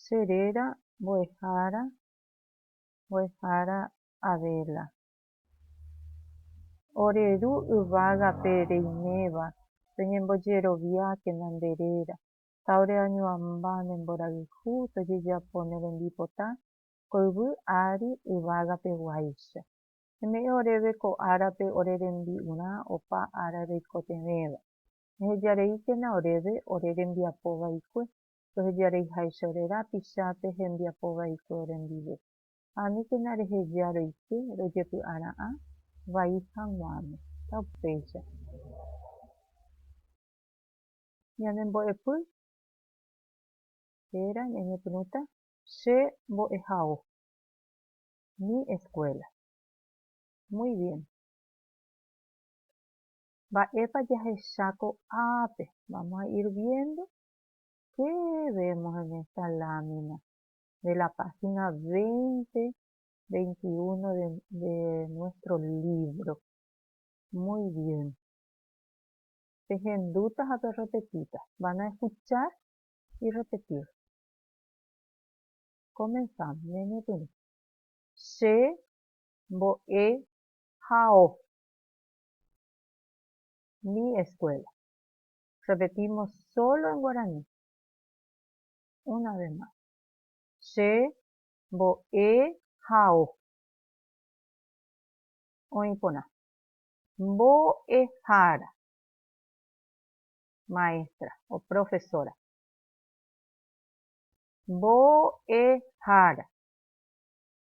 Che réra mbo'ehára mbo'ehára Adela. Ore ru yvágape reiméva toñembojeroviákena nde réra, ta ore añuãmba ne mborayhu tojejapo ne rembipota ko yvy ári yvágape guáicha. Eme'ẽ oréve ko árape ore rembi'urã opa ára reikotevẽva. Ehejareíkena oréve ore rembiapo vaikue, rohejareiháicha ore rapicha pe hembiapo vaikue orendive. Ha aníkena reheja roike rojepy'ara'ã vai haguãme. Ta upéicha. Ñane mbo'epy héra ñañepyrũta. Che mbo'ehao. Mi escuela. Muy bien. Mba'épa jahecha ko'ápe? Vamos a ir viendo qué vemos en esta lámina de la página 20, 21 de, de nuestro libro. Muy bien. Pehendúta ha perrepetíta. Van a escuchar y repetir. Comenzamos. Ñañepyrũ. Che mbo'e hao. Mi escuela. Repetimos solo en guaraní. Una vez más. Che mbo'ehao. Oĩ porã. Mbo'ehára. Maestra o profesora. Mbo'ehára.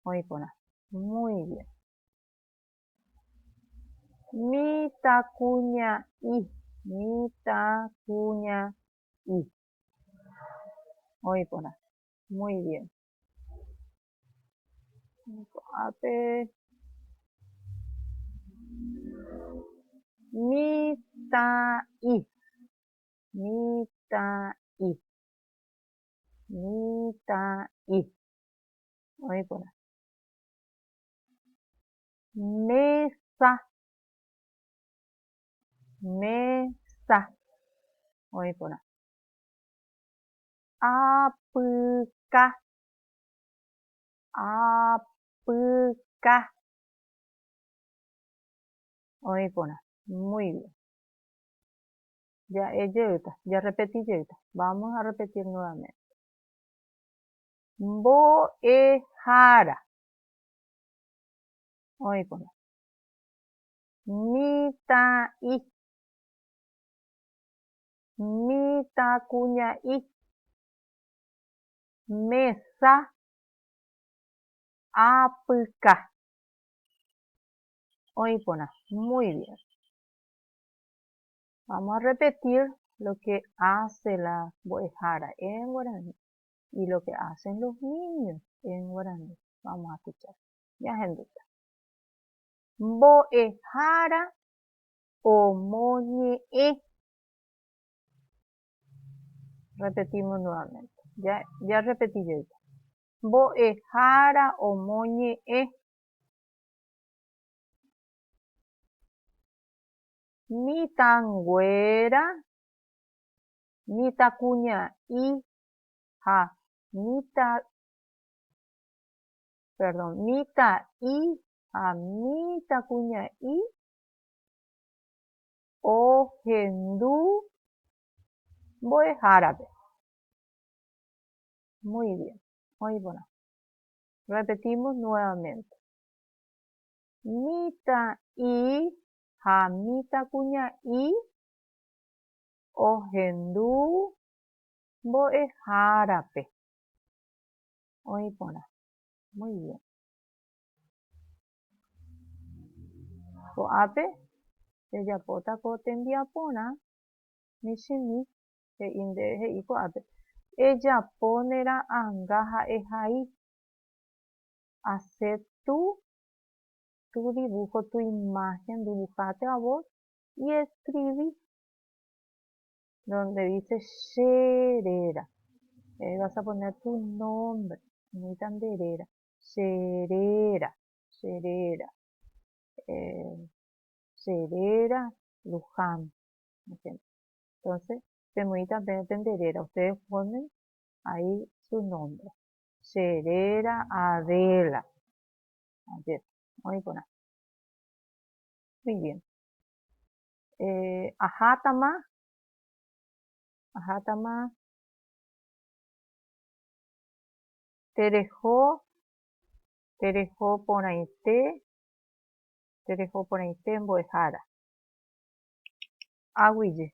Oĩ porã. Muy bien. Mitãkuña'i, mitãkuña'i. Oĩ porã. Muy bien. Ko'ápe mitã'i, mitã'i, mitã'i. Oĩ porã. Mesa. Mesa. Oĩ porã. Apyka. Apyka. Oĩ porã. Muy bien. Ja'e jeýta, jarrepeti jeýta. Vamos a repetir nuevamente. Mbo'ehára. Oĩkuri. Mitã'i. Mitãkuña'i. Mesa apyka. Oĩ porã. Muy bien. Vamos a repetir lo que hace la mbo'ehára en guaraní. Y lo que hacen los niños en guaraní. Vamos a escuchar. Ñahenduta. Mbo'ehára omoñe'ẽ. Repetimos nuevamente. Ya, ya repetí yo ya. Mbo'ehára omoñe'ẽ. Mitãnguéra, mitãkuña'i ha mitã'i ha mitãkuña'i ohendu mbo'ehárape. Muy bien. Oĩ porã. Repetimos nuevamente. Mitã'i ha mitãkuña'i ohendu mbo'ehárape oĩ porã. Muy bien. Ko'ápe jajapóta ko tembiaporã michĩmi, he'i nde, he'i ko'ápe, ejapo ne ra'anga ha ehai, hacer tu, tu dibujo, tu imagen, dibuhate a vos y escribí. Donde dice che réra, ahí vas a poner tu nombre, necesita nde réra, che réra, che réra, eh, che réra Luján, Entonces, pemoita pende réra, ustedes ponen ahí su nombre, che réra Adela, ayer, hoy por Muy bien. eh, ahátama, ahátama tereho, tereho porãite, tereho porãite mbo'ehára. Aguije.